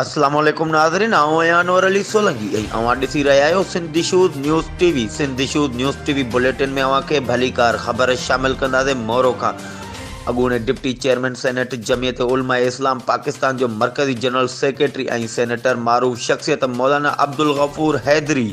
السلام عليڪم ناظرين آئون آهيان انور علي سولنگي ۽ اوهان ڏسي رهيا آهيو Sindh shows news T V Sindh shows news T V bulletin ۾ اوهان کي ڀليڪار خبر شامل ڪنداسين مورو کان اڳوڻي deputy chairman senate Jamiat Ulema Islam Pakistan جو مرڪزي جنرل سيڪريٽري ۽ سينيٽر معروف شخصيت مولانا عبدالغفور حيدري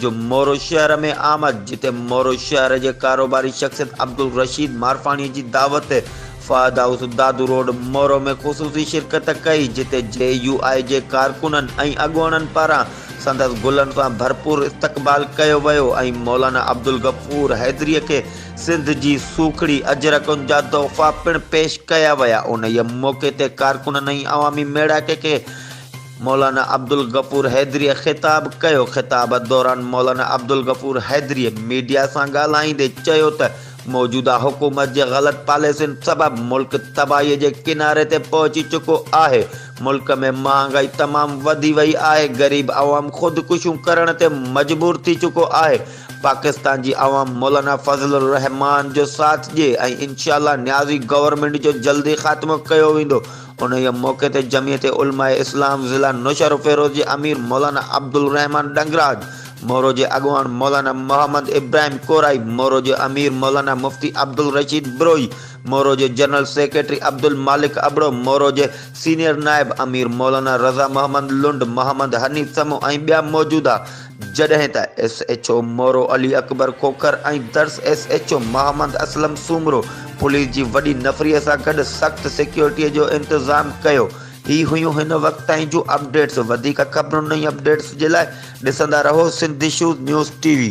جو مورو شهر ۾ آمد جتي مورو شهر جي ڪاروباري شخصيت عبدالرشيد مارفاڻي جي دعوت تي فهد هائوس دادو روڊ مورو ۾ خصوصي شرڪت ڪئي جتي جي يو آء جي ڪارڪنن ۽ اڳواڻن پاران سندس گلن سان ڀرپور استقبال ڪيو ويو ۽ مولانا عبدالغفور حيدري کي سنڌ جي سوکڙي اجرڪن جا تحفا پڻ پيش ڪيا ويا انهيء موقعي تي ڪارڪنن ۽ عوامي ميڙاڪي کي مولانا عبدالغفور حيدريء خطاب ڪيو، خطاب دوران مولانا عبدالغفور حيدريء ميڊيا سان ڳالهائيندي چيو ته موجوده حڪومت جي غلط پاليسين سبب ملڪ تباهيء جي ڪناري تي پهچي چڪو آهي، ملڪ ۾ مهانگائي تمام وڌي وئي آهي، غريب عوام خودڪشيون ڪرڻ تي مجبور ٿي چڪو آهي، پاڪستان جي عوام مولانا فضل الرحمان جو ساٿ ڏي ۽ انشاء الله نيازي گورنمينٽ جو جلدي خاتمو ڪيو ويندو، انهيء موقعي تي جمعيت علماء اسلام ضلع نوشهروفيروز جي امير مولانا عبدالرحمان ڏنگراج، مورو جي اڳواڻ مولانا محمد ابراهيم ڪورائي، مورو جي امير مولانا مفتي عبدالرشيد بروهي، مورو جي جنرل سيڪريٽري عبدالمالڪ ابڙو، مورو جي سينيئر نائب امير مولانا رضا محمد لنڊ، محمد حنيف سمون ۽ ٻيا موجودا جڏهن ته S H O Moro Ali Akbar Khokhar ۽ Dars S H O Muhammad Aslam Soomro police جي وڏي نفري سان گڏ سخت سيڪيورٽي جو انتظام ڪيو. هي هيون هن وقت تائين جون اپڊيٽس وڌيڪ خبرون ۽ اپڊيٽس جي لاء ڏسندا رهو Sindh issues news T V.